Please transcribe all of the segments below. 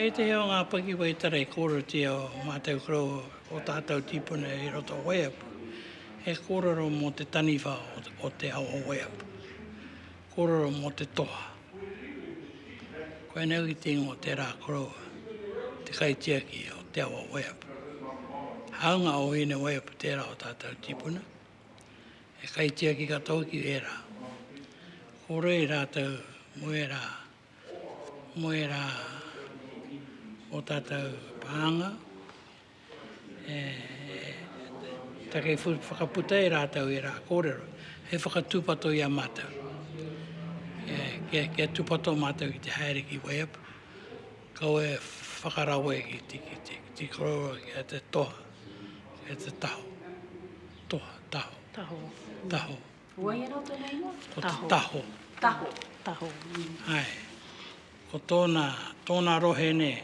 I ētehi o ngā pakiwai tara i kōrerotia o mātou korou o tātou tīpuna i roto o Waiapu, he kōrero mō te taniwha o te ao o Waiapu, kōrero mō te toha. Koinei hoki te ingoa o tērā koroua, te kaitiaki o te ao o Waiapu. Hāunga o Hine-waiapu tērā o tātou tīpuna. he kaitiaki katoa ki ērā. Ko rei rātou mō ērā, mō ērā o tātou pānga, e take whakaputa e rātou ērā kōrero, hei whakatūpato i a mātou, kia tūpato mātou ki te haere ki Waiapu. Kaua e whakarawe ki te kite, ki te korero kia te toha, kia te taho. Toha, taho. Taho. Taho. Ko wai anō tōna ingoa? Ko te taho. Taho. Taho. Taho. Ae. Ko tōna, tōna rohe nei,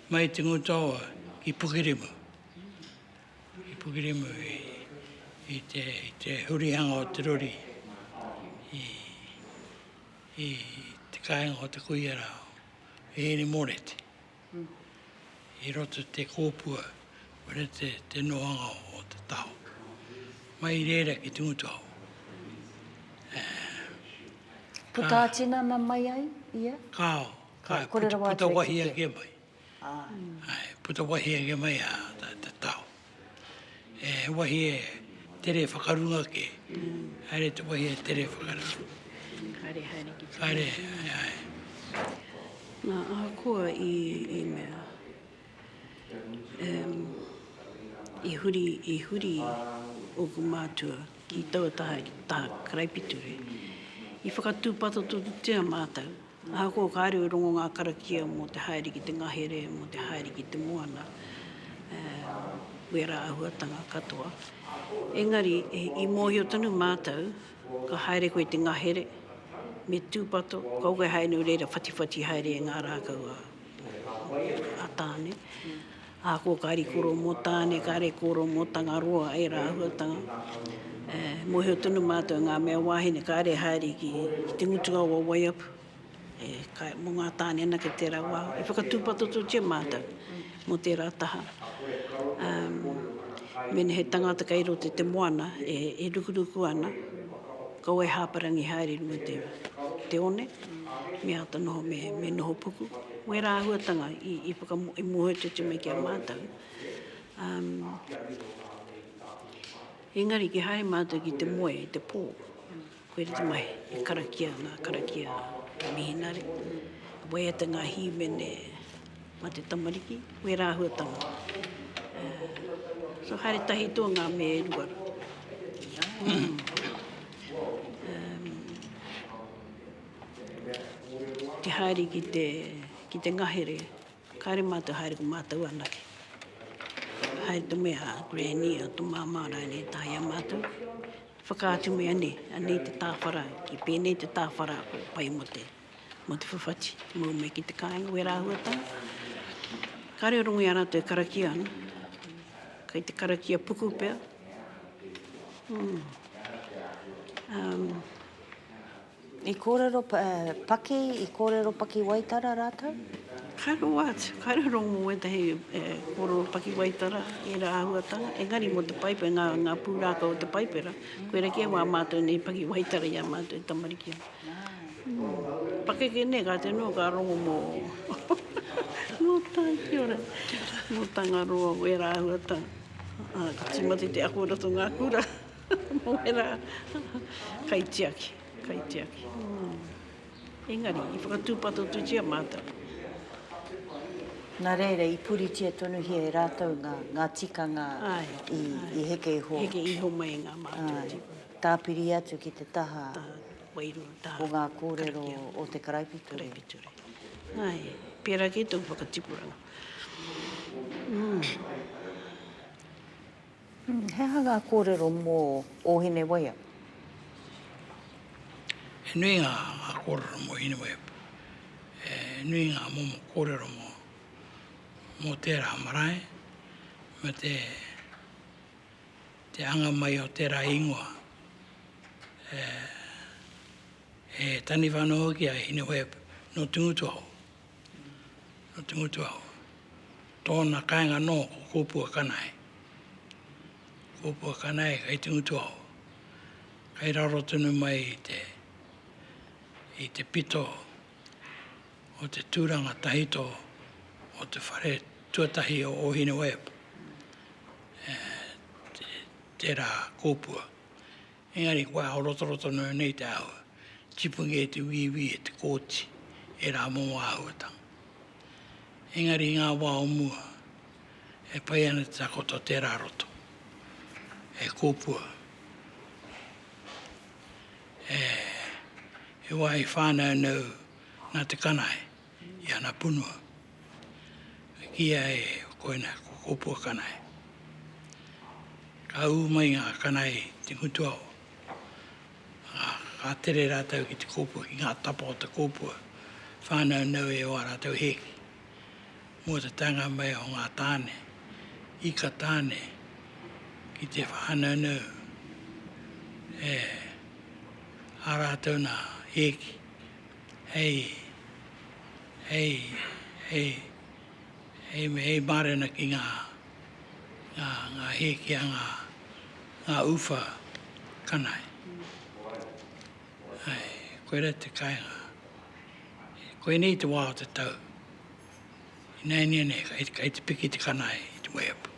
mai te Ngutoa ki Pukirimu. Ki Pukirimu i, i te, i te hurihanga o te rori, i, i te kāinga o te kuia rā, Ere Morete, i roto i te kōpua me te nohanga o te taho. Mai reira ki te ngutu hou. Puta a tinana mai ai ia? Kao, kai, puta wahi ake mai. Puta wahi ake mai a te taho. He wahi e tere whakarunga ake. Haere te wahi e tere whakarunga. Haere, haere ki te Haere, haere, haere. Nā, ahakoa i, i mea, um, i huri, i huri ōku mātua ki taua taha, taha karaipiture, i whakatūpatotorutia mātou. Ahakoa kāre i rongo ngā karakia mō te haere ki te ngahere, mō te haere ki te moana, wērā āhuatanga katoa, engari i mōhio tonu mātou ka haere koe i te ngahere, me tūpato, kaua koe haere nō reira whatiwhati haere e ngā rākau a Tāne. A ko Karikoro mo Tane, kare koro mo Tangaroa e Rahuatanga. E mohio tonu matou e nga mea wahine kare haere ki te ngutunga o Waiapu. E kai mo nga tane anake tera wa e whakatupatototia matou mo tera taha. Um mena he tangata kai roto i te moana e rukuruku ana, kaua e haparangi haere runga te one. me āta noho me noho puku, wērā āhuatanga i mōhiotia mai ki a mātou. Engari ki haere mātou ki te moe i te pō, koira te mahi, e karakia ana, karakia te mihinare, e waiata ngā hīmene mā te tamariki, wērā āhuatanga. So haere tahi tō ngā me e rua. Te haere ki te, ki te ngahere, kāre mātou haere ko mātou anake. Haere to me a Granny, a to Māmā rānei e taea mātou. Whakaatu mea nei, anei te tāwhara, ki pēnei te tāwhara ko pai mo te, mo te whawhati. Mau mai ki te kāinga wera āhuatanga. Kāre o rongo i a rātou e karakia ana. Kai te karakia puku pea. Umm. Umm. I kōrero paki, i kōrero pakiwaitara rātou? Kairoa atu, kairoa atu mō wētahi e kōrero pakiwaitara ērā āhuatanga, engari mō te Paipera, ngā, ngā pūrākau o te Paipera, koirā kē wā mātou nei pakiwaitara i a mātou e tamariki ana. Ū, pakeke nē, ka te nui, ka rongo mō, mō tā, kia ora, mō Tangaroa, wērā āhuatanga. Ā, ka tīmata i te ako i roto i ngā kura. Moera, kaitiaki, kaitiaki. Engari, i whakatūpatotutia mātou. Nā reira, i puritia tonuhia e rātou ngā, ngā tikanga i, i heke iho. Heke iho mai i ngā mātua tipuna. Tāpiri atu ki te taha. Taha wairua, taha. O ngā kōrero o te karaipiture. Karaipiture. Ai, pērā kei tōku whakatipuranga. Mm. He aha ngā kōrero mō Ōhinewaia? He nui ngā kōrero mō Ōhinewaia. He nui ngā momo kōrero mō mō tērā marae me te te anga mai o tērā ingoa e taniwha ana hoki a Ōhinewaia nō Tūngutuaho. Nō te Motuaho. Tōna kāinga anō ko Kōpua Kanae. Kōpua Kanae kei te Motuaho. Kei raro tonu mai i te, i te pito o te tūranga tahito o te whare tuatahi o Ōhinewepu, tērā Kōpua. Engari kua aorotoro tonu nei te āhua, tipu kē te wīwī e te kōti, e rā mō āhuatanga. Engari i ngā wā o mua, e pai ana te takoto tērā roto, e kōpua, e, he wā i whānaunau nā te kanae. i ana punua, e kīia e koina ko Kōpua Kanae. Ka ū mai ngā kanae i te ngutuao, ā, ka tere rātou ki te kōpua, ki ngā tapa o te kōpua, whānaunau e ō rātou hēki. Mō te taenga mai o ngā tāne, ika tāne, ki te whānaunau e ā rātou nā hēki, Hei, hei, hei, hei me hei mārena ki ngā, ngā, ngā hēkia, ngā, ngā uwha kanae. Ae, koirā te kāinga. Koinei te wā o te tau. Ināianei nei, kai, kai te piki te kanae i te waiapu.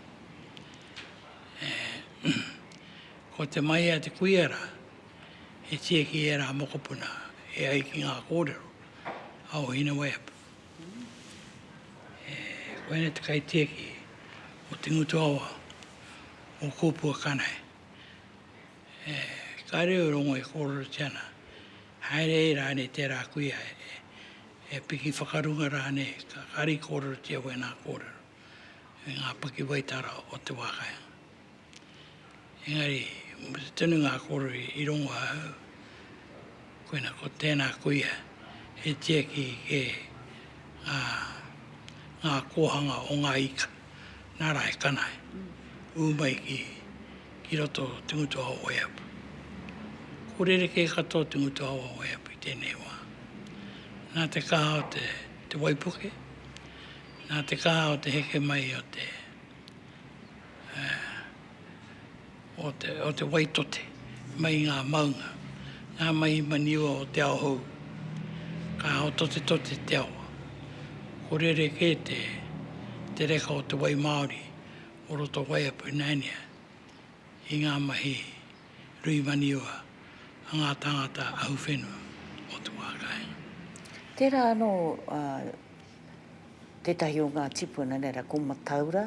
E, ko te maia te kuia rā, he tieki i ērā mokopuna e ai ki ngā kōrero a ō Hineweapu. E koe nei te kaitieki o te ngutu awa o Kōpua Kanae. E kāre au rongo e kōrerotia ana, haere ai rānei tērā kuia e piki whakarunga rānei, ka kari kōrerotia wēnā kōrero me ngā pakiwaitara o te wā kāinga. Engari, mō te tonu ngā kōrero i rongo ahau, koina ko tēnā kuia e tiaki kē ngā kōhanga o ngā ika, nā rā he kanae, ū mai ki roto o te ngutu hao o Waiapu. Ko rerekē katoa te ngutu hao o Waiapu i tēnei wā. Nā te kaha o te waipuke, nā te kaha o te heke mai o te. o te waitote mai i ngā maunga, ngā mahi maniwa o te ao hou. Ka haototetote te awa. Ko rerekē te reka o te wai māori o roto o Waiapu Nania i ngā mahi. Rui Maniua, a ngā tāngata ahu whenua o Tuākāhi. Tērā anō tētahi o ngā tipuna, nei rā, ko Mataura,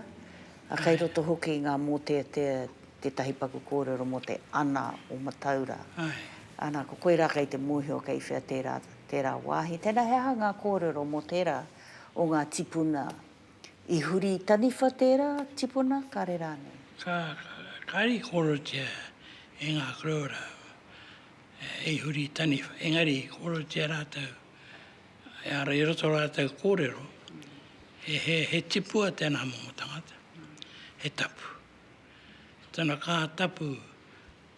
ā, kei roto hoki i ngā mōteatea tētahi paku kōrero mō te ana o Mataura. Āe. Ana, ko koe rā kei te mōhio kei whea tērā, tērā wāhi. Tēnā, he aha ngā kōrero mō tērā o ngā tipuna I huri i Taniwha tērā tipuna kare rānei. Ka kari korotia e ngā koroura i huri i Taniwha, engari i korotia rātou, ehara i roto rātou kōrero, he tipua tēnā momo tangata, he tapu. Tana kaha tapu,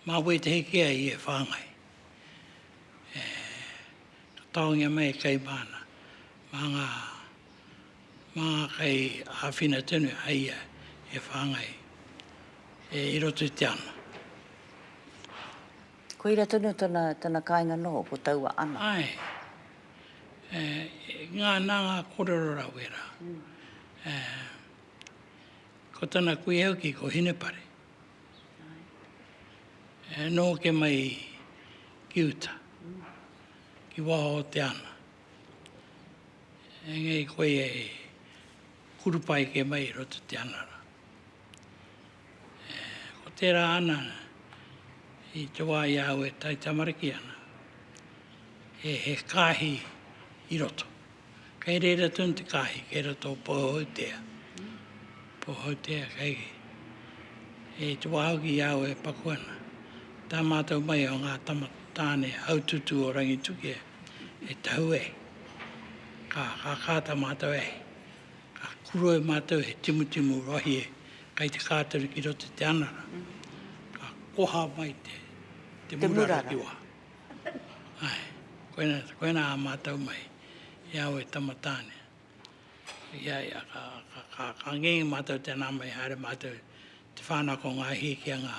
mā wētehi kē ai i e whāngai. Ka taongia mai e Kaimāna, mā ngā. Mā kei āwhina tonu a ia e whāngai, e i roto i te ana. Koira tonu tana, tana kāinga noho, ko taua ana. Āe. E, ngā, nā ngā kōrero rāua e rā. E, ko tana kuia hoki ko Hinepare. E, noho kē mai ki uta, ki waho o te ana. Engari koia e kurupa eke mai i roto i te anara. Ko tērā ana, i te wā i a au e taitamariki ana, he, he kāhi i roto. Kei reira tonu te kāhi, kei roto o Pohohutea. Pohohutea, kei, e te wā hoki i a au e paku ana. Tā mātou mai o ngā tama tāne haututu o Rangitukia, e tau e, ka kākāta mātou e, ka kuro e mātou he timutimu rohi e, kai te kātoru ki roto i te anara, ka koha mai te, te murara ki waha. Ae, koina, koina a mātou mai, i au e tama tāne. Ia, ia, ka, ka, ka, ka ngenge mātou tēnā mai, haere mātou te whānako ngā hī ki a ngā.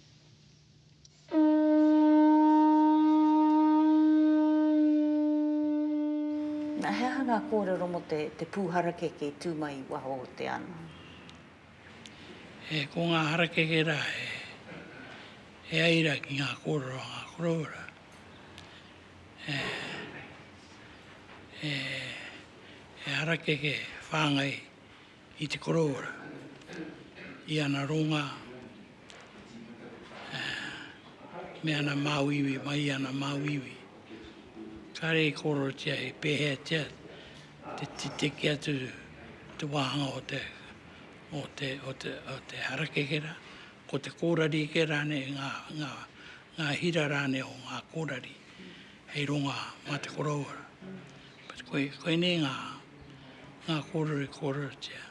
He aha ngā kōrero mō te pū harakeke i tū mai i waho o te ana? Ko ngā harakeke rā he aira ki ngā kōrero a ngā koroua rā. He harakeke whāngai i te korowara, i ana ronga me ana māuiui, mai ana māuiui. Kāre i kōrerotia he pēheatia te titeke atu te wāhanga o te, o te, o te, o te harakeke rā, ko te kōrari kē rānei, ngā, ngā, ngā hira rānei o ngā kōrari. hei ronga mā te koroua. Koinei ngā kōrero i kōrerotia,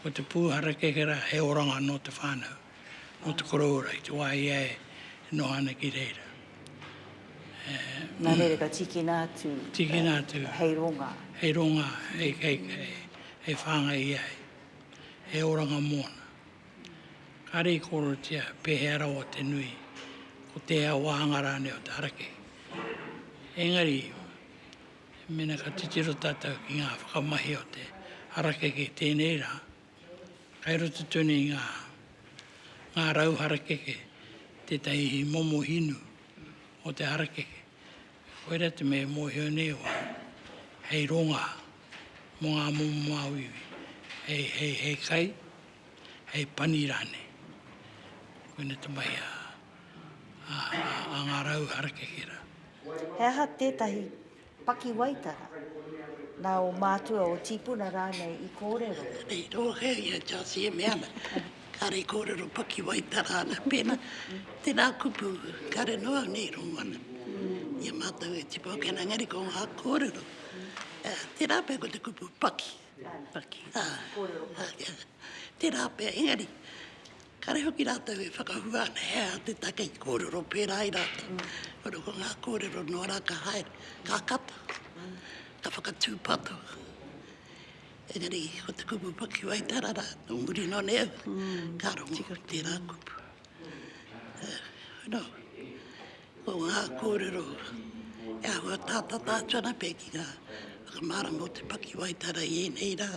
ko te pū harakeke rā he oranga nō te whānau, nō te koroua i te wā i a ia e noho ana ki reira. Nā reira ka tīkina atu hei ronga. Hei ronga, hei whāngai i a ia, he oranga mōna. Ka rīkorotia pēhea rawa te nui, ko tēhea wāhanga rānei o te araki. Engari, mēnā ka titiro tātou ki ngā whakamahi o te harakeke i tēnei rā, kai roto tonu i ngā ngā rau harakeke tētahi momo hinu o te harakeke. Koirā te mea e mōhio nei au au, hei rongā mō ngā momo māuiui, hei, hei, hei kai, hei pani rānei. Koina te mahi a ngā rau harakeke rā. He aha tētahi pakiwaitara nā ō mātua, ō tīpuna rānei i kōrero? Hei tō kē i a Josie e mea ana, kāre i kōrero pakiwaitara ana pēnā. Tēnā kupu, kāre noa nei i rongo ana i a mātou e tipu ake ana, engari ko ngā kōrero. Tērā pea ko te kupu paki. Tērā pea, engari, kāre hoki rātou e whakahua ana he aha te take i kōrero pērā i rātou. Kono ko ngā kōrero noa rā ka haere, ka kata, ka whakatūpato. Engari, ko te kupu pakiwaitara rā, nō muri nō nei au, ka rongo tērā kupu. Nō. Ko ngā kōrero e āhua atātata atu ana pea ki ngā whakamārama o te pakiwaitara i ēnei rā.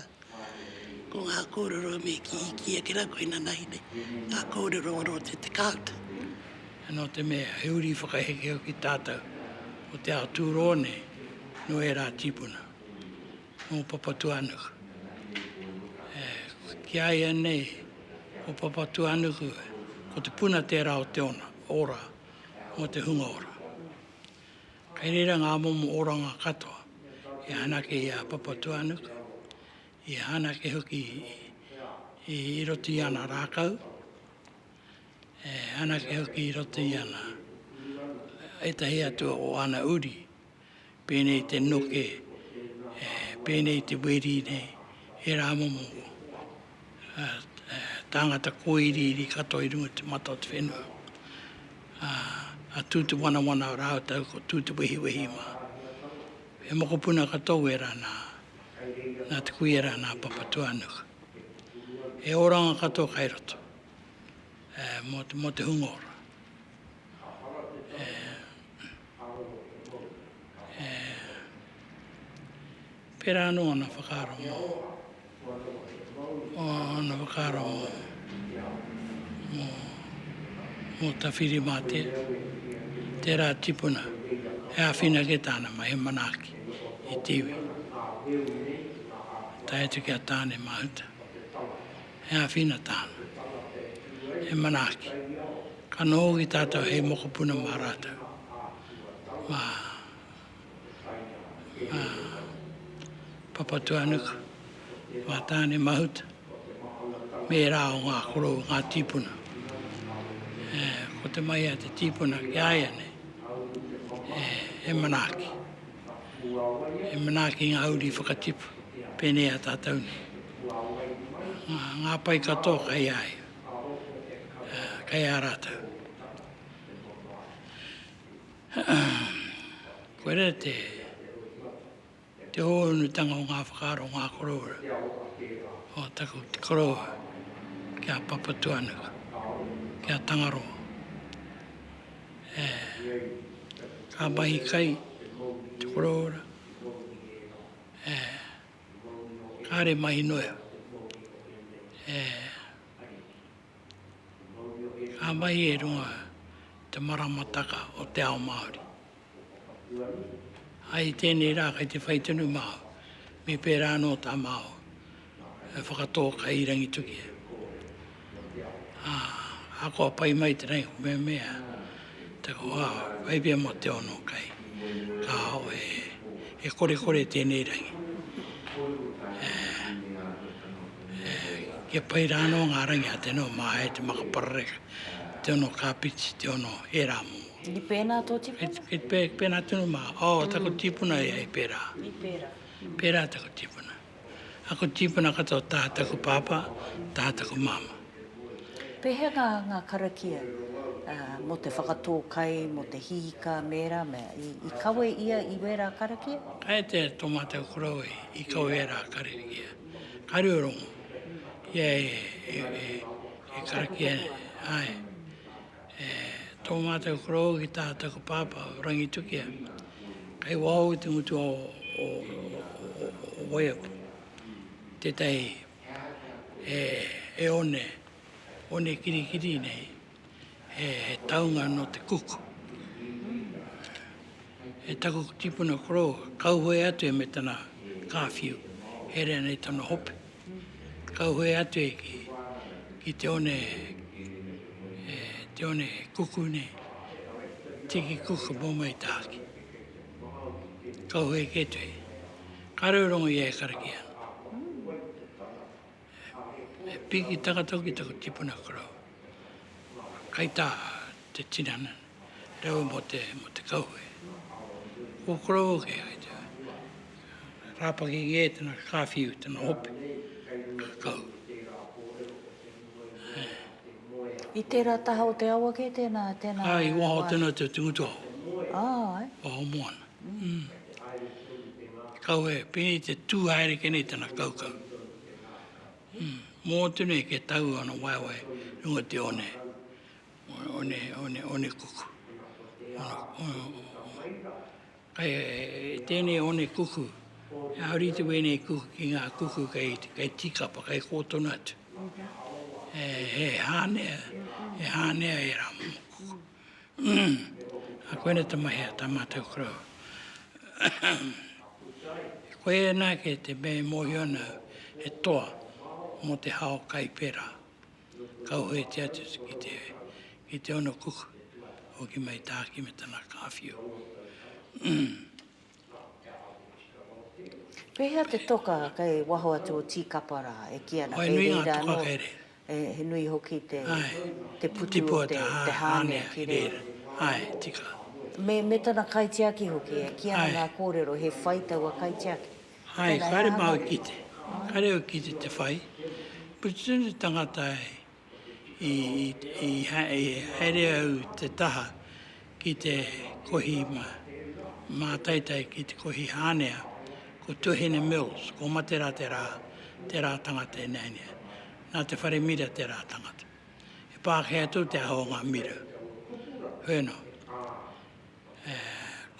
Ko ngā kōrero me kī, kī ake rā koe nanahi nei, ngā kōrero ora o te tekaute. Nō te mea, he uri whakaheke au ki tātou, ko te ao tūroa nei, nō ērā tīpuna. mō Papatūānuku. Ki a ia nei, ko Papatūānuku, ko te puna tērā o te ona, ora, mō te hunga ora. Kei reira ngā momo oranga katoa i hanake i a Papatūānuku, i hanake hoki i roto i ana rākau, e hanake hoki i roto i ana ētahi atu o ana uri. Pēnei te noke, pēnei te weri nei, he rā momo tāngata kōiriiri katoa i runga i te mata o te whenua. A tū te wanawana rātou, ko tū te wehiwehi mā. He mokopuna katoa wērā nā, nā te kuia rā, nā Papatūānuku. He oranga katoa kai roto mō te hunga ora. e pērā anō ōna whakaaro mō ōna whakaaro mō mō mō Tawhirimātea tērā tipuna e āwhina kē tāna mai he manaaki i te iwi tae atu ki a Tāne Mahuta He āwhina tāna, he manaaki. Ka noho hoki tātou hei mokopuna mā rātou, mā Papatūānuku, mā Tāne Mahuta, me ērā o ngā korou, ngā tīpuna. Ko te mahi a te tīpuna ki a ia nei, he manaaki. e manaaki ngā uri whakatipu pēnei a tātou nei. Ngā pai katoa kai a ia, kai a rātou. Koira te te hōunutanga o ngā whakaaro, ngā koroua o taku koroua ki a Papatuanuku, ki a Tangaroa. ka mahi kai te korōra, kāre mahi noa iho. Ka mahi i runga i te maramataka o te ao Māori. Ai tēnei rā kei te whai tonu māua, me pērā anō tā māua E whakatō kai i Rangituki e. Ā, ahakoa pai mai tenei ko Meamea, te koa whai pia mo te ono kai. Kahao e, he korekore tenei rangi. E, e, kia pai rā anō ngā rangi a tenō mā hai te maka parareka, te ono kāpiti, te ono he rā momo. I pēnā tō tipuna? Kei, kei pēnā tonu mā. Oh, taku tipuna e, e pērā. I pērā. Pērā taku tipuna. Aku tīpuna katoa taha taku pāpā, taha taku māmā. Pēhea ngā ngā karakia mō te whakatō kai, mō te hīka me rā mea, i kawe ia i wērā karakia? Kai te tō mātou korou e, i kawe wērā karakia. Kāre o rongo, ia e karakia, āe. E tō mātou koroua ki tā taku pāpā o Rangitukia, kei waho i te mutu ao o Waiapu, tētahi he one, one kirikiri nei, he taunga nō te Cook. E taku tipuna koroua, kauhoe atu e me tana kāwhiu, herea nei tana hope. Kauhoe atu e ki, ki te one, e, te one kuku nei. Tiki kuku mō mai tāki. Kauhoe ke tu e. Kāre o rongo ia e karakia. E, e piki takatau ki taku tipuna korau. Kai tā te tinana. reo mō te kauwhe. Ko Koroua kē, kei te rāpaki kē tana kāwhiu, tana hope, kakau. I tērā taha o te awa kē tēnā? Āe, i waho tēnā te Tungutaho, waho moana. Te kauwhe, pēnei te tū haere ke nei tana kaukau. Mō atu nei ke tau ana waewae runga te one, onekuku. Kei tēnei onekuku, he āwriti wēnei kuku ki ngā kuku kei tīkapa, kei kō tonu atu. He hānea, he hānea e rā mō kuku. A koina tamahea, tā mātou koroua. Koe nā ke te mea e mōhio ana he toa mō te hao kai pērā. Kauhoetia atu ki te, ki te ono kuku. Hoki mai tāki me tana kāwhiu. Pēhea te toka kei waho atu o Tīkapa rā e kī ana kei reira anō? He nui hoki te putu o te hānea ki reira. Ae, tika. Me tana kaitiaki hoki e kī ana ngā kōrero he whai taua kaitiaki. Hai, kare mau ki te, kare au ki te te whai, but soon as tangata i, i, i haere au te taha ki te kohi ma, mātaitai ki te kohi hānea, ko Tuhene Mills, ko Matera te rā, te rā tangata e nainea. Nā te whare mira te rā tangata. E Pākehā tō te aho o ngā mira. Wheno.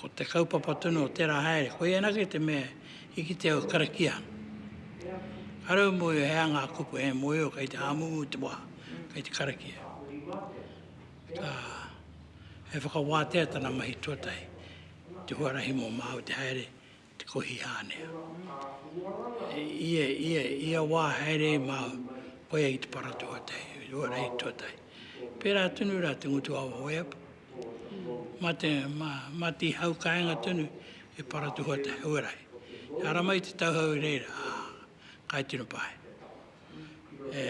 Ko te kaupapa tonu o tērā haere, koia anake te mea i kitea au e karakia ana. Kāre au e mōhio he aha ngā kupu, he mōhio kei te hāmumu te wā, kei te karakia. He whakawātea tana mahi tuatahi, te huarahi mō māu te haere, te kohi hānea. Ia wā haere māu koia i te para tuatahi, i te huarahi tuatahi. Pērā tonu rā te ngutu a Waweapu, mā te, mā, mā te hau kāinga tonu e para tuatahi, huarahi. E ara mai te tauhau i reira, ā, kai tino pae. E,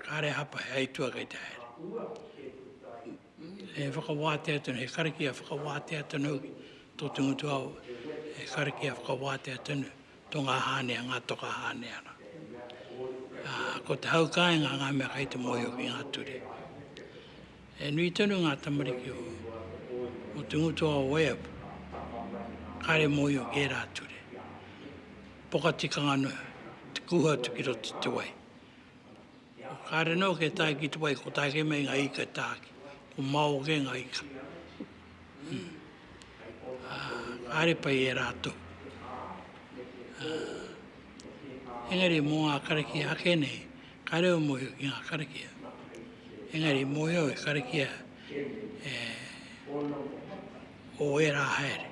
kāre hapa he aitua kei te haere. E whakawātea tonu, he karakia whakawātea tonu hoki tō Te Ngutuao, he karakia whakawātea tonu tō ngā hāne, ngā toka hāne ana. Ko te hau kāinga ngā mea kai te mōhio ki ngā ture. E nui tonu ngā tamariki o, o Te Ngutuao o Waiapu, kāre mōhio ki ērā ture. Poka tikanga noa, te kuhu atu ki roto te wai. Ko kāre noa kei tae ki te wai, ko tāke mei ngā ika e tāke, ko māo kē ngā ika. Kāre pai e rātou. Engari mō ngā karakia ake nei, kāre au mōhio ki ngā karakia. Engari mōhio au he karakia e... o ērā haere.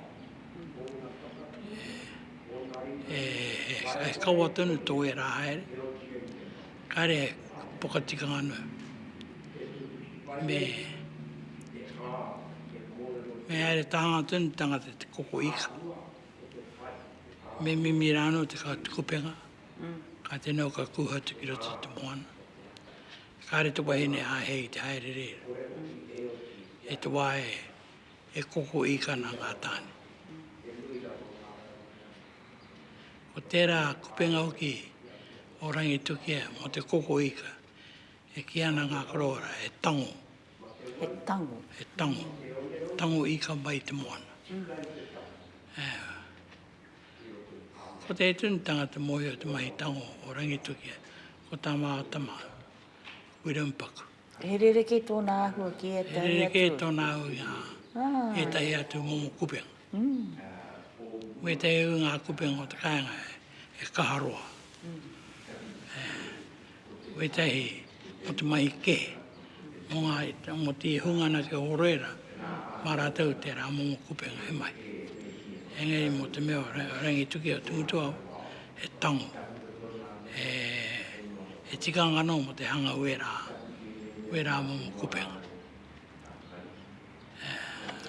E, e, e kaua tonu tō ērā haere, kāre e pokatikanga anu. Me, me haere tāhanga tonu tangata te koko ika. Me mimi rā anu te kā tukupenga, kā te nau kā kūha tukira te te moana. Kāre te wahine āhei te haere rēra. E te wā e, He koko īkana ngā tāne. Ko tērā kupenga hoki o Rangitukia mō te koko īka, e kī ana ngā korowara, he tango. He tango. He tango. Tango īka mai i te moana. Ko te tunitanga te mōhio te mahi tango o Rangitukia, ko tā māua tama, Wiremu Paku. He rerekē tōna āhua ki ētahi atu. He rerekē tōna āhua ki ētahi. Ētahi atu momo kupenga. Ko ētahi o ngā kupenga o te kāinga he kaha roa. Ko ētahi mō te mahi kē, mō te hunga ana ki a Horoera, mā rātou tērā momo kupenga he mahi. Engari mō te mea o Rangitukia o Tumutuau, he tango, he he tikanga no mo te hanga wera, wera momo kopenga.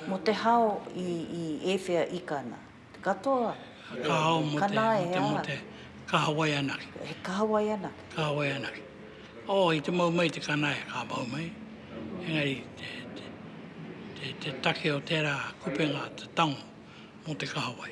Mo te hao i i ewhea ika na? Te katoa? Ka hao mo te mo te mo te kahawai anake. He kahawai anake? Kahawai anake. Oh, i te mau mai te kanae, ka mau mai. Engari te te te te take o tera kopenga te tango mo te kahawai.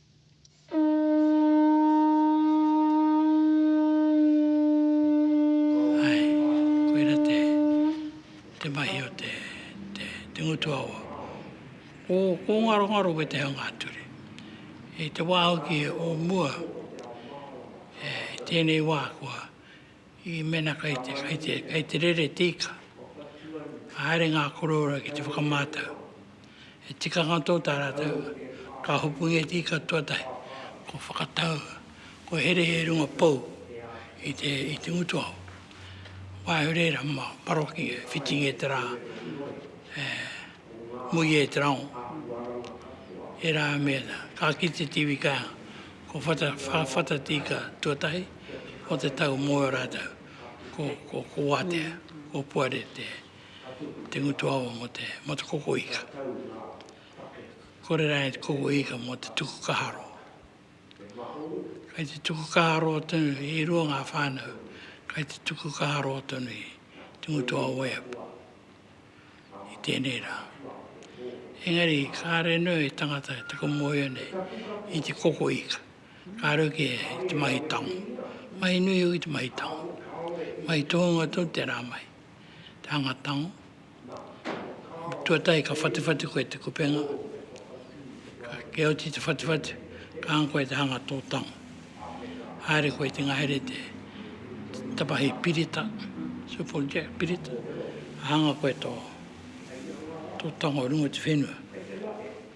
Ae, koira te, te mahi o te, te, te ngutu awa. Ko, ko ngarongaro koe te hanga ā-ture. I te wā hoki o mua, e, i tēnei wā kua. I mena kai te, kai te, kai te rere tika, ka haere ngā koroura ki te whakamātau. He tikanga tō tā rātou, ka hopungia e tika tuatahi, ko whakatau, ko here he runga pou i te, i te ngutu aho. Waiho rēra ma paroki e whiting e te rā, e muia e te rango. E rā mea, ka ki te tiwi kai, ko whata, whata tika tuatahi, o te tau mō ō rātou, ko, ko, ko wātea, ko puare te, te ngutu awa mō te, mō te koko ika. Kore rānei te koko ika mō te tuku kaharo. Kai te tuku kaharo tonu, e rua ngā whānau, kai te tuku kaharo tonu i te ngutu a Oeap i tēnei rā. Engari, kāre nui tangata te komohio nei i te koko ika. Ka rerekē i te mahi tango. Mahi nui hoki te mahi tango. Mahi tohunga tonu tērā mahi. Te hanga tango. Tuatahi ka whatiwhati koe i te kupenga. Kia oti i te whatiwhati, ka hanga koe i te hanga tō tango. Haere koe i te ngahere te tapahi pirita, super jack pirita. Hanga koe tō tango runga o te whenua.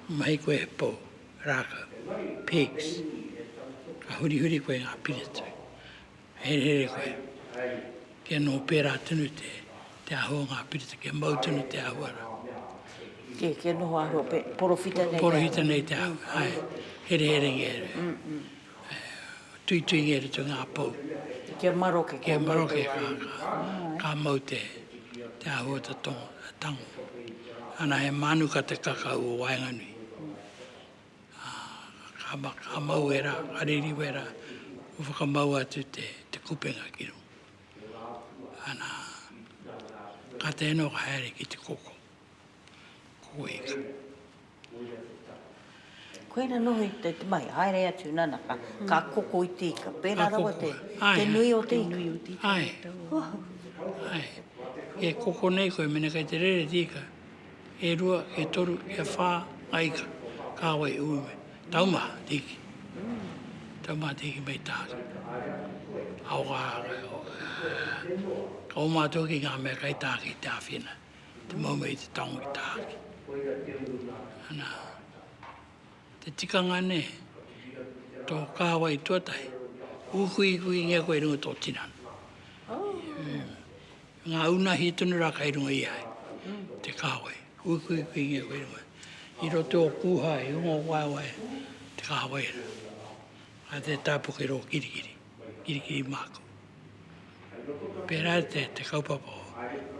Mahi koe he pou. Rākau, pigs, ka hurihuri koe ngā piritui, ka herehere koe, kia nō pērā tonu te ahu o ngā piriti, kia mau tonu te ahu ara. Kē, kia noho āhua, porowhita nei te ahu. Porowhita nei te ahu, āe, hereherengia e rua. tuituinga e rite o ngā pou. Kia maroke, kia mau te wai. Kia maroke, ka mau te āhua te tango. Ana he mānuka te kakau o waenganui. Ka mau e rā, ka riri wera, kua whakamau atu te kupenga ki runga. Ana, ka tēnō ka haere ki te koko. Koina noho i te mahi, haere atu nana ka koko i te ika, pērā rawa te nui o te ika. Ae, ae, e koko nei koe mena kei te rere te ika, e rua, e toru, e wha nga ika, kawa e ui mai, taumaha te iki, taumaha te iki mei taha ki. Aoha, ka oma atu hoki nga mea kei taha ki te awhina. te maunga i te tango i tahaki. Ana, te tikanga nei, tō kāwai tuatahi, ūkuikuki ngia koe i runga tō tinana. Mm. Ngā unahi tonu rā kai runga i ai, te kāwai, ūkuikuki ngia koe i runga. I roto o kūhā, i unga o waewae, te kāwai rā. Ai te tāpuke rō kirikiri. Kirikiri māku. Pērā i te, te kaupapa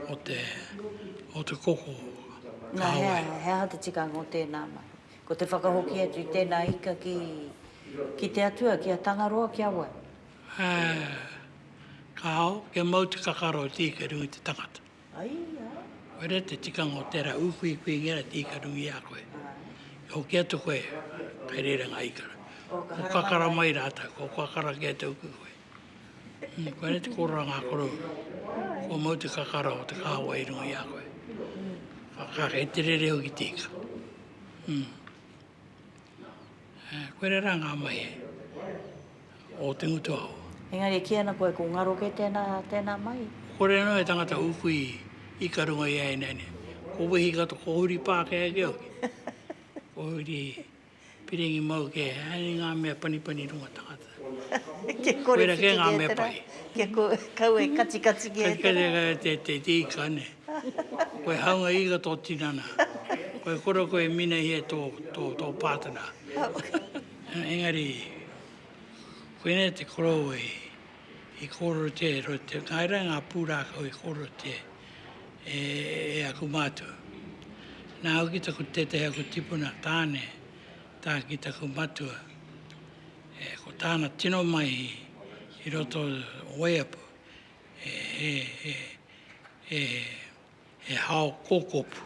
o te, o te koko ka Nā, he aha, he aha te tikanga o tēnā mahi? Ko te whakahoki atu i tēnā ika ki, ki te Atua, ki a Tangaroa, ki a wai? Ā, kāo, kia mau te kakaro e tīkeriu i te tangata. Koira te tikanga o tērā ūkuikuinga e tīkarungi i a koe. E hoki atu koe, kei reira ngā ikara. Ko kakara mai rātou, ko kakara kē te uku koe. Koira te kōrero a ngā korou, kua mau te kakara o te kāwai i runga i a koe. Kei te rere hoki tika. Koira rā ngā mahi o te ngutu aho. Engari e kī ana koe ko ngaro kē tēnā, tēnā mahi? Kore anō he tangata ūku i ika runga i a ēnei nei. Ko Wehi katoa, ko Huri Pākehā kē hoki. Ko Huri Piringi mau kē, ēnei ngā mea panipani runga tangata. Kia kore ki te kētera, kia kau e katikati ki ētera. Kia kore ki a te te te ika ne. Koe haunga ika tō tinana. Koe kore koe minahia tō, tō, tō pātana. Engari, koinei te korou e, i kōrero te, ro te, ngai rā ngā pūrākau i kōrero te, e, e aku mātou. Nā au ki taku tētahi aku tipuna tāne, tā ki taku matua. ko tāna tino mahi i roto o Waiapu, he hao kōkopu.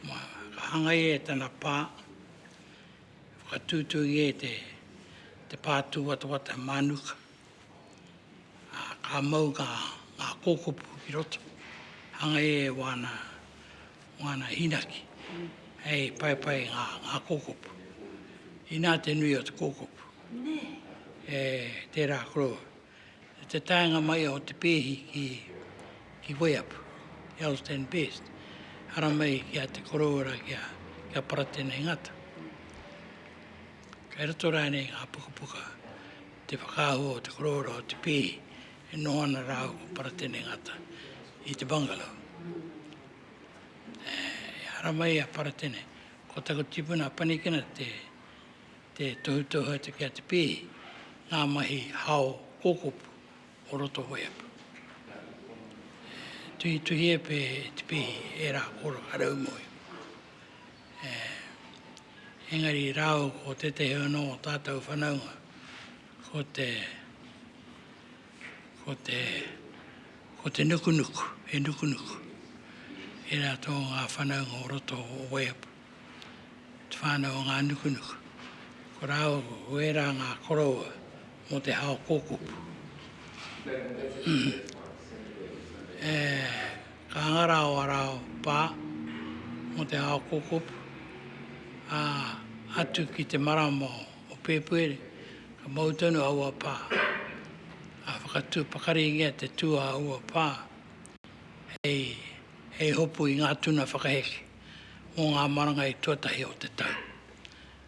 Ka hanga ia e tana pā, whakatūtū ia i te pā tūwatawata e Mānuka. ā, ka mau ngā kōkopu ki roto, hangei e wāna, wāna hīnaki, hei paepae ngā, ngā kōkopu. Inā te nui o te kōkopu. E, tērā koro, i te taenga mai o te pēhi ki, ki Waiapu, ki Elsdene Best, haramai ki a Te Koroura, ki a, ki a Paratene Ngata. Kei roto rānei i ngā pukapuka te whakaahua o te korōra o te pīhi e noho ana rāua ko Paratene Ngata i te bungalow. E haramai i a Paratene, ko taku tipuna a Panikina te, te tohutohu atu ki a te pīhi, ngā mahi hao kōkopu o roto waiapu. E tuhituhia pea e te pīhi ērā kōraka raumoe. Engari rāua ko tētehi anō o tātou whanaunga, ko te, ko te, ko te nukunuku, he nukunuku. E rā tō ngā whanaunga o roto o Waiapu, te whānau o ngā nukunuku. Ko rāua ko ērā ngā koroua mō te hao kōkupu. Ka hanga rā o Arao pā mō te ao kōkopu, ā, atu ki te marama o Pēpuere, ka mau tonu aua pā, ā, whakatū pakaringia te tū a aua pā hei, hei hopu i ngā tuna whakaheke mō ngā maranga i tuatahi o te tau.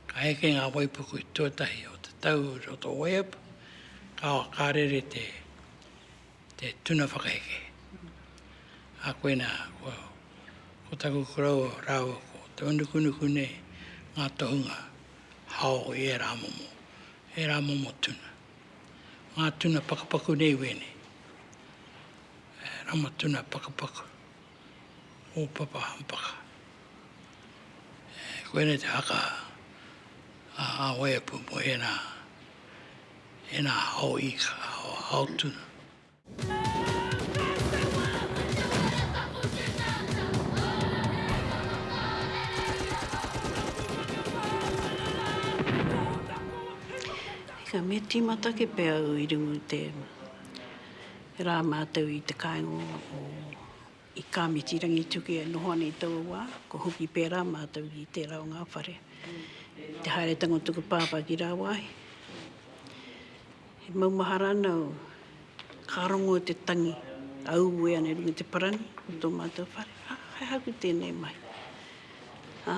Ka heke ngā waipuku i tuatahi o te tau i roto o Waiapu, ka, ka rere te, te tuna whakaheke. A koe nā, ko, ko taku koroua rāua ko te manukunuku nei, ngā tohunga hao i ērā momo, ērā momo tuna. Ngā tuna pakapaku nei wēnei, e, ramatuna pakapaku. o Papa Hampaka. E koe nei te haka a Aweapu mo ena, ena hao ika, hao, hao tuna. Ika, me timata ke pe au i rungu te. He rā mātou i te kāinga o i Kāmiti Rangitukia e noho ana i taua wā, kua hoki pērā mātou ki tērā o ngā whare. I te haeretanga o tuku pāpā ki rāwāhi, he maumahara ana au, ka rongo te tangi, a uwe ana i runga i te parani o tō mātou whare, ā, he aha aku tēnei mahi. Ā.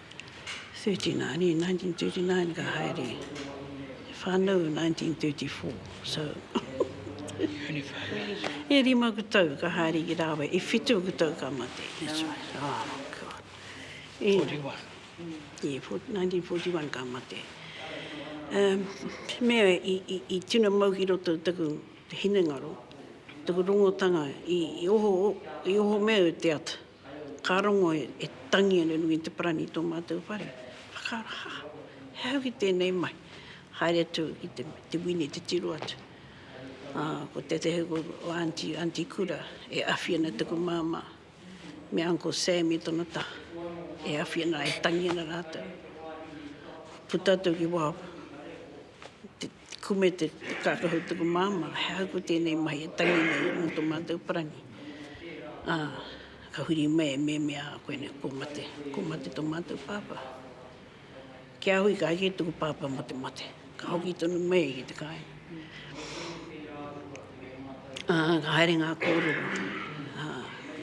39 in 1939 ka haere e whanau 1934 so e rima ku tau ka haere ki rawe e whitu ku tau ka mate that's right oh god e, 41 e 1941 ka mate um, me i, i, i tino mau ki roto taku hinengaro taku rongotanga i, i oho i oho me te ata Ka rongo e tangi ana runga i te parani i tō mātou whare. Whakaaro, ha! He aha ki tēnei mai? Haere atu ki te wini te tiro atu. Ā, ko tētehi o ō aunty, Aunty Kura, e awhi ana taku māmā me Uncle Sam i tōna taha. E awhi ana, e tangi ana rātou. Puta atu ki waho, Ko me te kākahu tuku māmā, he aha ko tēnei mahi e tangi nei mō tō mātou parangi? Ā, ka huri mai e Meme, ā, koe nei, kua mate, kua mate tō mātou pāpā. Ki a hui, ka eke tuku pāpā mō te mate, ka hoki tonu mai ki te kāinga. Ka haere ngā kōrero, ā,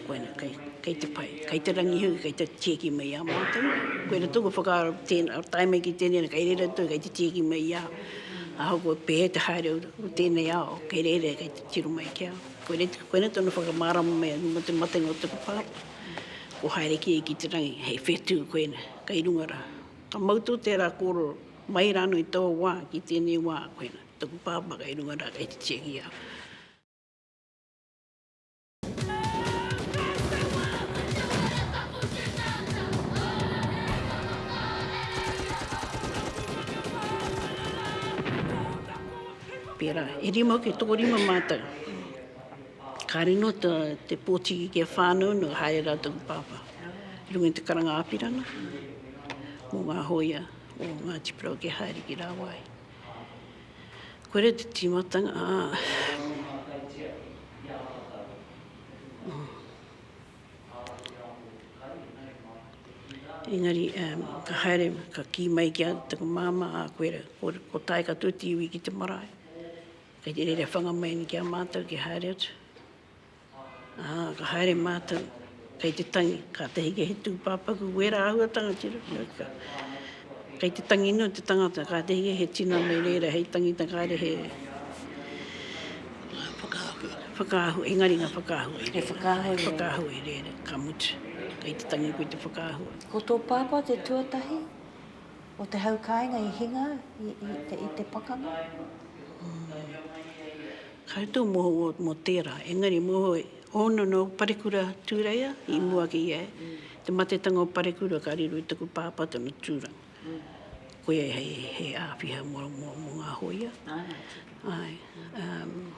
koina kei, kei te pai, kei te rangi hoki, kei te tieki mai i a mātou. Koina tōku whakaaro tēnā, tae mai ki tēnei rā, kei reira atu, kei te tieki mai i a au. Ahakoa pēhea te haere o tēnei ao, kei reira, kei te tiro mai ki a au. Koinei, koinei tonu whakamārama mai atu mō te matenga o taku pāpā. Kua haere kē ki te rangi, hei whetū koina, kei runga rā. Ka mau tō tērā kōrero, mai rānō i taua wā, ki tēnei wā, koina. Taku pāpā kei runga rā, kei te Tšehia. Pērā, e rima ki tōrima mātou. Kāre no te, te pōtiki ki a whānau no haere rā taku pāpā. I runga te karanga āpirana, mō ngā hoia, mō ngā tipura o ke haere ki rāwai. Koira te timatanga a. Engari ka haere, ka kī mai ki a taku māmā, a koira, ko tae katoa te iwi ki te marae. Kei te reira whanga mai ni ki a mātou ki haere atu. Ā, ka haere mātou kei te tangi, kātahi ka he tūpāpaku wērā āhuatanga ki roto i ka. Kei te tangi noa te tangata, kātahi ka he tinana i reira hei tangita kāre he whakaahua, whakaahua, engari ngā whakaahua i reira. He whakaahua i reira. Whakaahua i reira, ka mutu, kei te tangi koe te whakaahua. Ko tō pāpā te tuatahi o te hau kāinga i hinga i te pakanga? Koutou mohoa mo tera, engari mohoa i ono no Parekura Tureia i mua ki ia, te matetanga o Parekura ka riro i taku papa tonu turanga. Koia hei he awhiha mo nga hoia. Aye um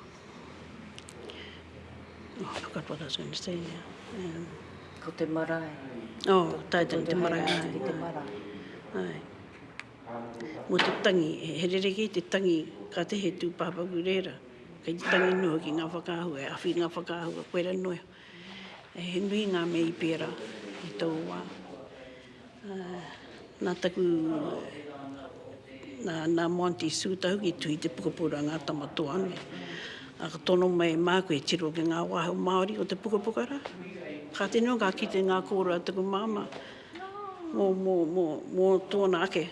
oh I forgot what I was going to say now um. Ko te marae. Oh tae tana te marae. Aye. Mō te tangi, he rerekē te tangi kātahi he tūpāpaku rērā, kei te tangi noa ki ngā whakaahua, he awhi ngā whakaahua, koe rā noa iho. He nui ngā mea i pērā i tōu wā. Nā taku, nā Monty Sue taku i tuhi te pukapuka a Ngā Tama Toa nei. Ka tono mai e māku e tiro ki ngā wāhi o Māori o te pukapuka rā. Kātahi noa ka kite ngā kōrero a taku māmā, mō, mō, mō, mō tōna ake,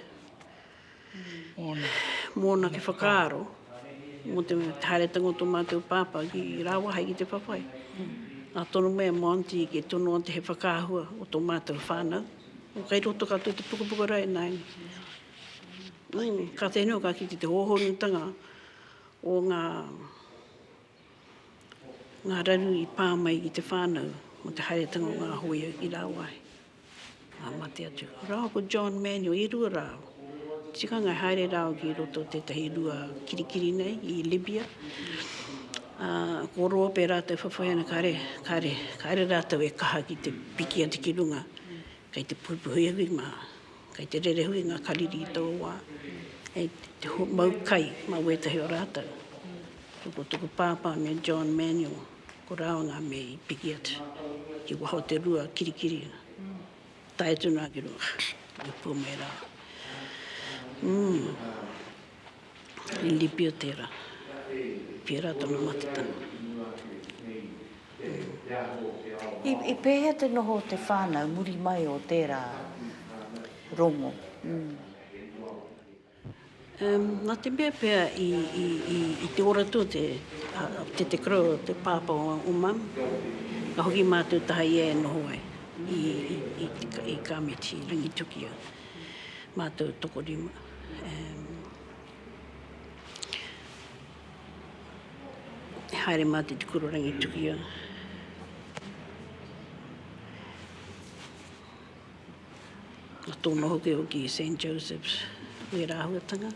mōna ake whakaaro, mō te haeretanga o tō mātou pāpā ki rāua hai ki te whawhai. Nā tōna mea mō Aunty ki tono te he whakaahua o tō mātou whānau. O kai roto katoa te pukapuka rā e nāianei. Mm, ka te nui, ka kite te hōhonutanga o ngā Ngā raru i pā mai ki te whānau mō te haeretanga o ngā hōia i rāwāhi, ā, mate atu. Rāua ko John Manuel i rua rā au. Tikanga e haere rāua ki roto o tētahi rua kirikiri nei i Libya, ā, ko Roa pea rātou whawhai ana kāre, kāre, kāre rātou e kaha ki te piki atu ki runga, kei te puhipuhi au i ngā, kei te rere hui ngā kariri i taua wā, hei te mau kai mā wētahi o rātou. Ko tōku pāpā me John Manuel, ko rāua ngā mea i piki atu ki waho o te rua kirikiri, tae atu noa ki runga i Pūmera. Umm, i Lipio tērā, pērā tōna matatanga. Umm. I pēhea te noho o te whānau muri mai o tērā rongo? Umm. Na te mea pea i te ora tua te tete kura o te papa o mam, ka hoki matou taha ia e noho ai i Kamiti, Rangitukia, matou tokorima. E haere matou i te kura o Rangitukia. Nā tōna hokihoki i Saint Joseph's wērā āhuatanga.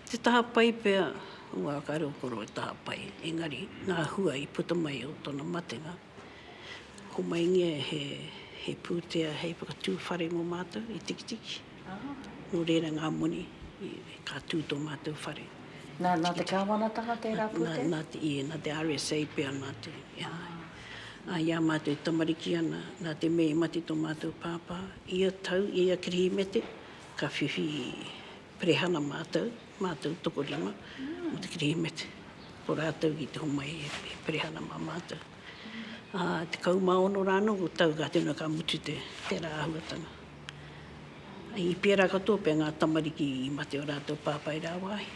Te taha pai pea o ngā kare o koro e taha pai, engari ngā hua i puta mai o tōna matenga. Homaingia he pūtea hei whakatū whare mō mātou i Tikitiki. Nō reira ngā moni ka tū tō mātou whare. Nā, nā te kāwanatanga tērā pūtea? Nā, nā, ē, nā te RSA pea mātou e ānga ai. Ā, i a mātou e tamariki ana, nā te mea i mate tō mātou pāpā, ia tau, i ia Kirihimete, ka whiwhi perehana mātou, mātou tokorima, mō te Kirihimete. Ko rātou i te homai e perehana mā mātou. Ā, tekau mā ono rānō o tau ka tino ka mutu te, tērā āhuatanga. I pērā katoa pea ngā tamariki i mate o rātou pāpā i rāwāhi.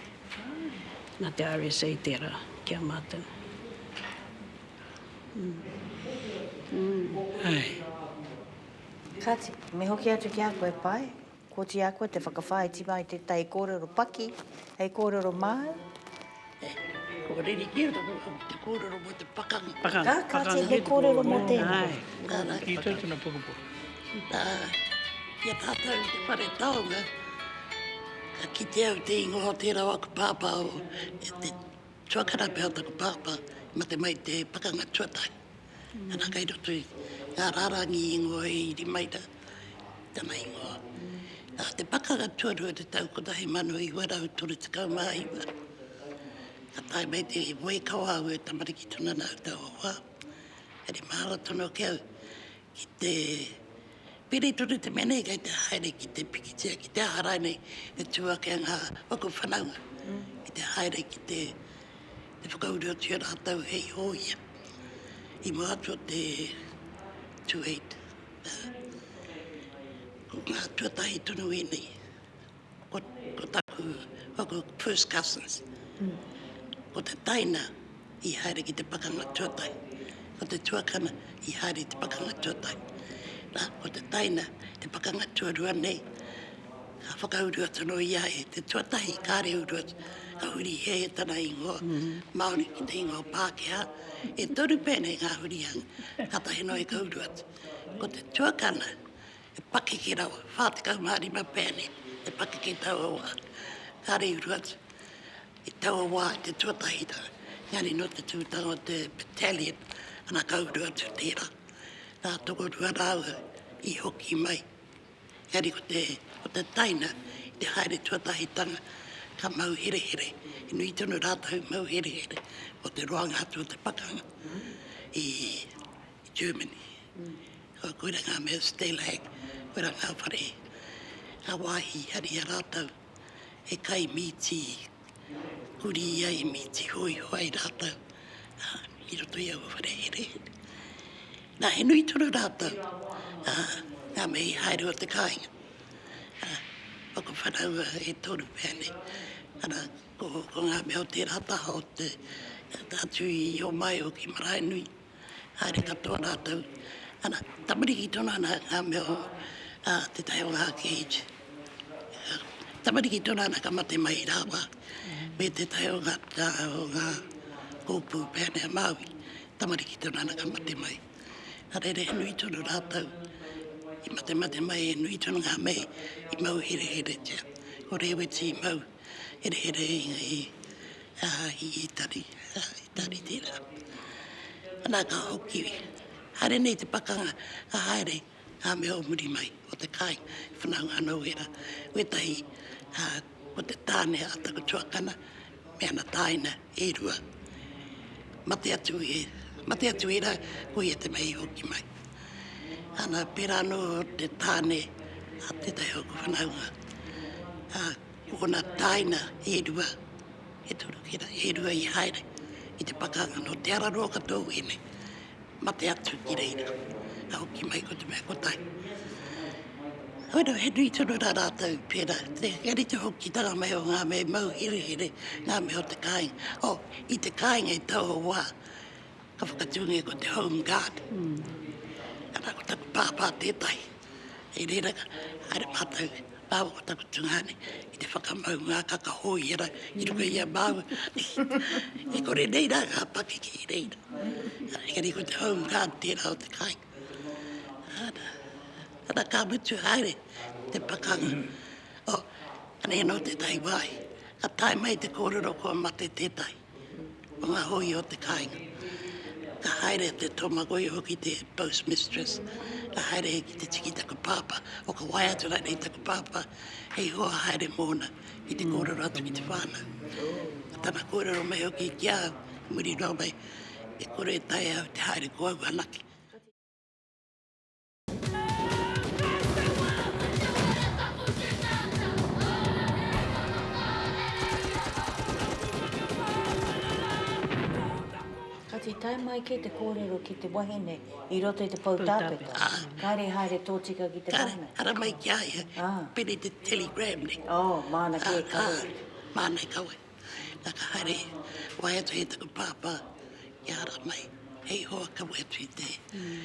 Nā te RSA tērā ki a mātou. Kāti, me hoki atu ki a koe, Pae, kooti a koe te whakawhāiti mai tētahi kōrero paki hei kōrero māu. Kua riri ki roto ki te kōrero mō te pakanga. Pakanga. Ka, ka, he kōrero mō tēnā. Ai. Nā, ki tō tuna pukupuku. Nā, ki a tātou te whare taonga, ka kite au te ingoa o tērā o aku pāpā o, e te tuakana pea o taku pāpā, mate mai te pakanga tuatahi. Ana kei roto i ngā rārangi ingoa i Rimaira tana ingoa. Nā te pakanga tuarua te tau 1939, ka tae mai te moe kau a au e tamariki tonu ana au taua wā. Engari mahara tonu ake au ki te piri tonu te mea nei kei te haere ki te pikitia, ki te aha rainei, e tū ake ngā paku whanaunga ki te haere ki te E whakauruatia rātou hei hōia i mātua te tueit. Ko ngā tuatahi tonu ēnei, ko, ko taku, ko aku first cousins. Ko te taina i haere ki te pakanga tuatahi, ko te tuakana i haere i te pakanga tuatahi. Nā, ko te taina, te pakanga tuarua nei, Ka whakauru atu anō ia e te tuatahi kāre uru atu, ka huri hē tana ingoa Māori ki te ingoa Pākehā. E toru pēnei ngā hurihanga, kātahi noa i ka uru atu. Ko te tuakana, he pakeke rawa, 45 pēnei te pakeke i taua wā. Kāre uru atu, i taua wā i te tuatahi rā, engari nō te tūtanga o te battalion, ana ka uru atu tērā. Nā Tokorua rāua i hoki mai. Engari ko te, ko te taina, i te haere tuatahitanga, ka mau herehere, he nui tonu rātou mau herehere o te roanga atu o te pakanga i Germany. Kua koira ngā mea Stalag, koira ngā whare, ngā wāhi i haria rātou he kai mīti, Huri i a Emi Tihoiho ai rātou i roto i aua whare herehere. Nā, he nui tonu rātou, ngā mea i haere o te kāinga. Ko te whanaunga e toru pea nei. Ana, ko ngā mea o tērā taha o te, atu i Omaio ki Maraenui, haere katoa rātou. Ana, tamariki tonu ana ngā mea o ā, tētahi o ngā Gage. Tamariki tonu ana ka mate mai rāua me tētahi o ngā, ā, o ngā hōpū Peane a Māui. Tamariki tonu ana ka mate mai. Nā reira, he nui tonu rātou i matemate mai, he nui tonu ngā mei i mau hereheretia. Ko Rēweti i mau. hereherenga i i Itari, Itari tērā. Nā ka hoki, haere nei te pakanga, ka haere ngā mea o muri mai o te kāinga i whanaunga anō wēra. Wētahi ko te tāne a taku tuakana me ana tāina e rua, mate atu e, mate atu e ra, ko ia te mea i hoki mai. Ana, pera ano te tane a tetahi o ko whanaunga, a, ko ona taina e rua, e toru, e rua i haere i te pakanga no Te Araroa katoa u e nei. Mate atu ki reira, ka hoki mai ko te mea kotahi. Oira, he nui tonu rā rātou pērā, kia rite hokitanga mai o ngā mea i mau herehere, ngā mea o te kāinga. Oh, i te kāinga i taua wā, ka whakatūngia ko te Home Guard. Arā ko taku pāpā tētahi. Hei reira, haere mātou, māua ko taku tungāne, ki te whakamau ngākaka hōiera ki runga i a māua. E kore nei rā ngā pakeke i reira. Engari ko te home guard tērā o te kāinga. Ana, ana ka mutu haere te pakanga. Oh, anei anō tētahi wāhi, ka tae mai te kōrero kua mate tētahi. o ngā hōia o te kāinga. Ka haere te tōmagoia hoki te post mistress, ka haere hei ki te tiki taku pāpā, o ka wae atu rānei taku pāpā, hei hoa haere mōna ki te kōrero atu ki te whānau. Ko tana kōrero mai hoki ki a au, muri nō mai, e kore e taea au te haere ko au anake. Kāti tae mai kē te kōrero ki te wahine i roto i te pou tāpeta. Kāre haere tōtika ki te wahine. Kāre, ara mai ki a ia. Ah. Piri te telegram nei. Oh, māna kē ka wai. Ah, māna i ka wai. Nā ka haere, wai atu hei taku pāpā, i ara mai. Hei hoa ka wai atu i te. Mm.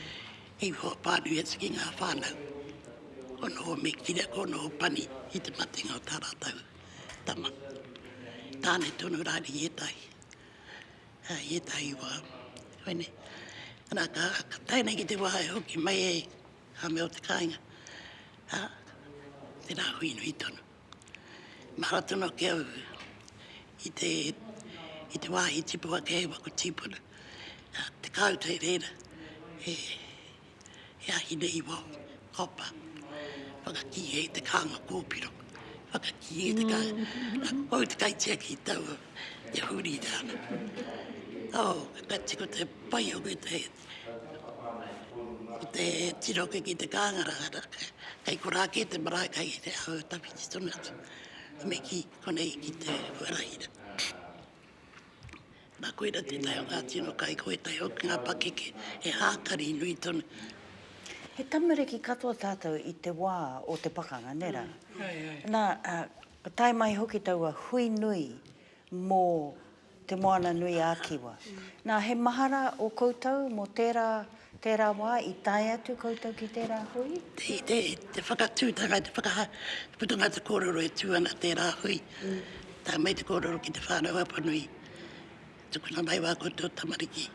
Hei whakapānui atu ki ngā whānau, ko noho me kira, ko noho pani i te matenga o tā rātou tama. Tāne tonu rā i ētahi, i ētahi wā, koe nei. Nā, ka tae nei ki te wā e hoki mai ai ngā mea o te kāinga, tērā hui nui tonu. Mahara tonu ake au i te, i te wāhi tipu ake hei waku tīpuna, ā, te kāu tereina e, e ahine i wao, kopa, whakakī e te kānga kōpiro, whakakī e te kā, a koutou te kaitiaki i taua, te huri i te ana. Oh, ka tiko te pai o ngētahi, Ko te tiroke ki te kāngarahara, kei korā kē te marae, kei te aho tawhiti tonu atu, me kī, konei ki te huaraira. Nā koira tētahi o ngā tino kai, ko ētahi hoki ngā pakeke he hākari nui tonu. He tamariki katoa tātou i te wā o te pakanga, nē rā? Nā, ka tae mai hoki taua hui nui mō Te Moana-nui-ā-Kiwa. Nā, he mahara ō koutou mō tērā, tērā wā i tae atu koutou ki tērā hui? I te, te whakatūtanga, te whaka, te putanga o te kōrero e tū ana tērā hui. Tae mai te kōrero ki te whānau Apanui, tukuna mai wā koutou tamariki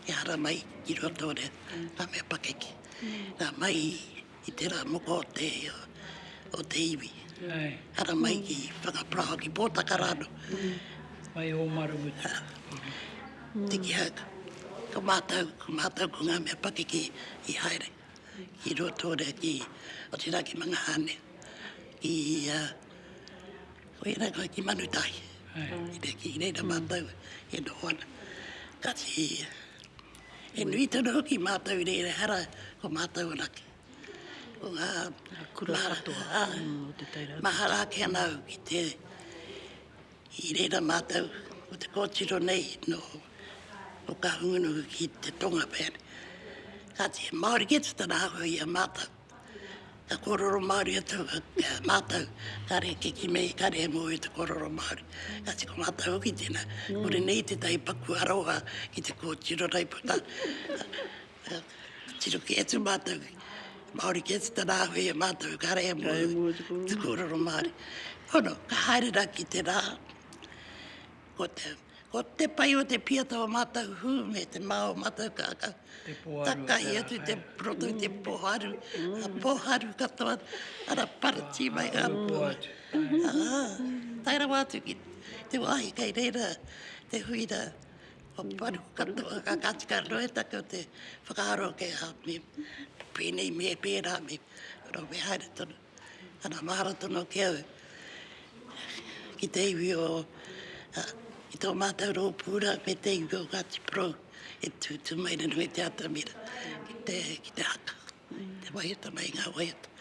kia ara mai ki Ruatoria, ngā mea pakeke. Nā, mai i. I te rā moko o te, o te iwi. Ai. Ara mai ki Whangaparaoa, ki Pōtaka rānō. Mai Ōmarumutu. Ā. Tiki hau. Ko mātou, ko mātou ko ngā mea pakeke i haere. Ai. Ki Ruatōrea, ki, otirā ki Mangahane. Ki, ā, koia rā koe, ki Manutahi. Ai. Ki reira mātou e noho ana. Kāti, e nui tonu hoki mātou rere hara ko mātou anake. Ko ngā kura katoa, mahara ake ana au ki te i rera mātou o te kōtiro nei no o Kahungunu ki te Tonga pēr. Kāti, Māori kē tana āhua i a mātou. Ka kororo Māori atu mātou, kare ke kimi, kare he moe te kororo Māori. Ka tiko mātou hoki tēnā. Kore nei i tētahi paku aroha ki te kōtiro raiputa. Tiro kē atu mātou, Māori kē te tarāwhē e mātou, kare he moe te kororo Māori. Pono, ka haere rā ki te rā, ko te Ko te pai o te piata o mātou hū me te mā o mātou kākā. Takahi atu te proto te poharu, a poharu katoa, ara parati mai ngā pua. Tae rawa atu ki te wāhi kei reira te huira o paru katoa, ka katika anō e tātou te whakaaro kei a me pēnei me pērā me, ora me haere tonu. Ana mahara tonu ake au ki te iwi o, ki tō mātou rōpū rā, me te iwi o Ngāti Porou e tūtū mai rānō i te atamira ki te, ki te haka, te waiata mai i ngā waiata.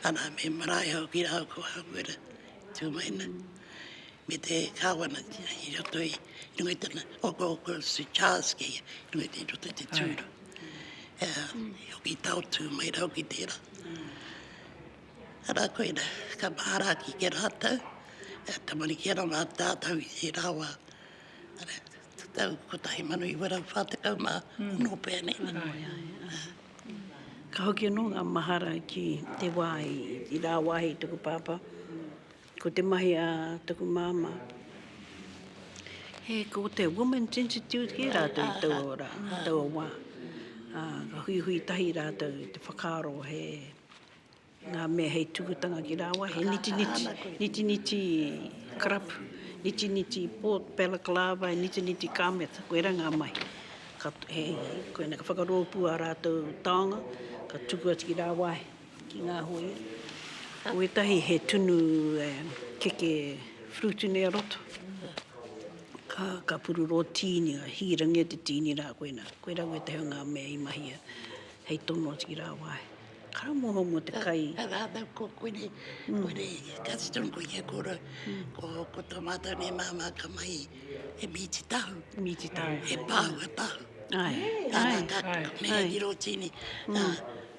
Ana, me marae au ki rāhau ko Hāmuera i tū mai ana, me te kāwana i roto i, i runga i tana okooko Sue Charles kēia, i runga i roto i te tūru. i hoki taotū mai rau ki tērā. Arā koina, ka mahara ki ke rātou, e tamariki ana mā tātou i tērā wā. Arā, te tau 1940 mā, mm. nō pēr nei mana. Ai, ai, ai. Ka hoki anō ngā mahara ki te wā i, i rā wāhi tuku pāpā. Ko te mahi a taku māmā, he ko te Women's Institute kē rātou i taua ora, i taua wā. Ā, ka huihui tahi rātou i te whakaaro he ngā mea hei tukutanga ki rāua, he nitiniti, nitiniti karapu, nitiniti port, balaclava, nitiniti kāmeta, koirā ngā mahi. Ka, hei, koinā ka whakarōpū ā rātou taonga, ka tuku atu ki rāua ai. ki ngā hōia. Ko wētahi he tunu keke frutune a roto, ka pururō tīni, ka hīrangia te tīni rā koina. Koirā wētahi o ngā mea i mahia hei tono ki rāwāhi. Ka moho mō te kai. Ka rātau ko koinei, koinei, kāti tonu koe kia kōrau. Ko tō mātou nei māmā ka mahi he mīti tahu. Mīti tahu. He pāhua tahu. Ai, ai, ai. Ka mea ki rō tīni,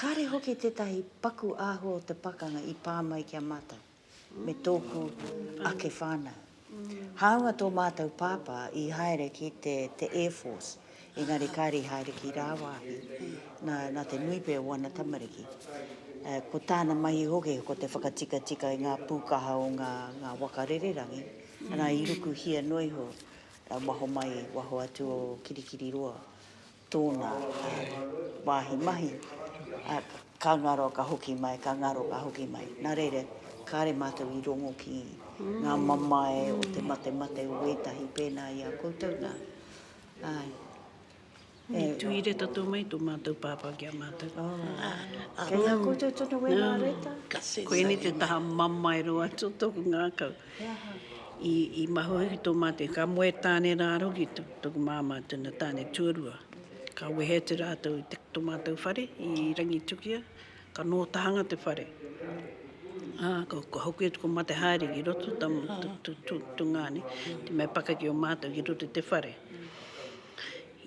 Kāre hoki tētahi paku āhua o te pakanga i pā mai ki a mātou me tōku ake whānau. Hāunga tō mātou pāpā i haere ki te Air Force, engari kāre i haere ki rāwāhi, nā te nui pea o ana tamariki. Ko tāna mahi hoki ko te whakatikatika i ngā pūkaha o ngā waka rererangi, arā, i rukuhia noa iho waho mai, waho atu o Kirikiriroa, Tōna wāhi mahi, ka ngaro, ka hoki mai, ka ngaro, ka hoki mai. Nā reira, kāre mātou i rongo ki ngā mamae o te matemate o ētahi pēnā i a koutou nā. Āe. E tūī reta tō mai tō mātou pāpā ki a mātou. Kei a koutou tonu wēnā reta? Koinei te taha mamae roa tō tōku ngākau. I mahua hoki tō mātou, ka moe tāne rā roki tōku māmā tōna tāne tuarua. Ka wehe atu rātou i tō mātou whare i Rangitukia, ka nō tahanga te whare. Ka hoki atu ko Mate Haere ki roto, tūngāne, te mea pakeke o mātou ki roto i te whare.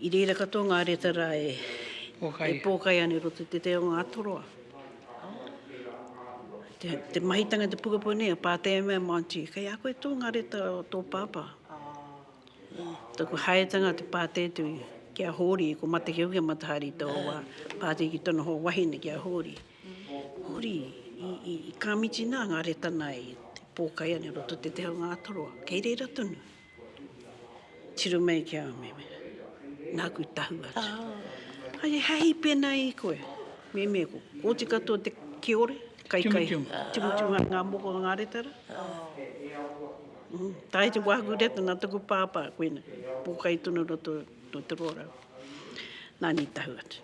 I reira katoa ngā reta rā e pōkai ana i roto i te te o Ngātoroa. Te mahitanga te pukapau nei, a pātai mai a Māntī, kei a koe tō ngā reta o tō pāpā? Taku haetanga te pātai atu ki a Hōri, ko Matakeo ki a Matahari taua wā, pātai ki tōna hoa wahine ki a Hōri, Hōri, i Kāmitinā ngā reta nā i pōkai ana i roto i te te o Ngātoroa, kei reira tonu? Tiro mai ki a Meme, nāku tahu atu. Ai e hahi pēnā i koe. Meme, ko kōti katoa te kiore, kaikai, timutimua ngā moko o ngā retara. Tae te wāku reta nā taku pāpā, koina, pōkai tonu roto, roto rōrau. Nāni tahu atu.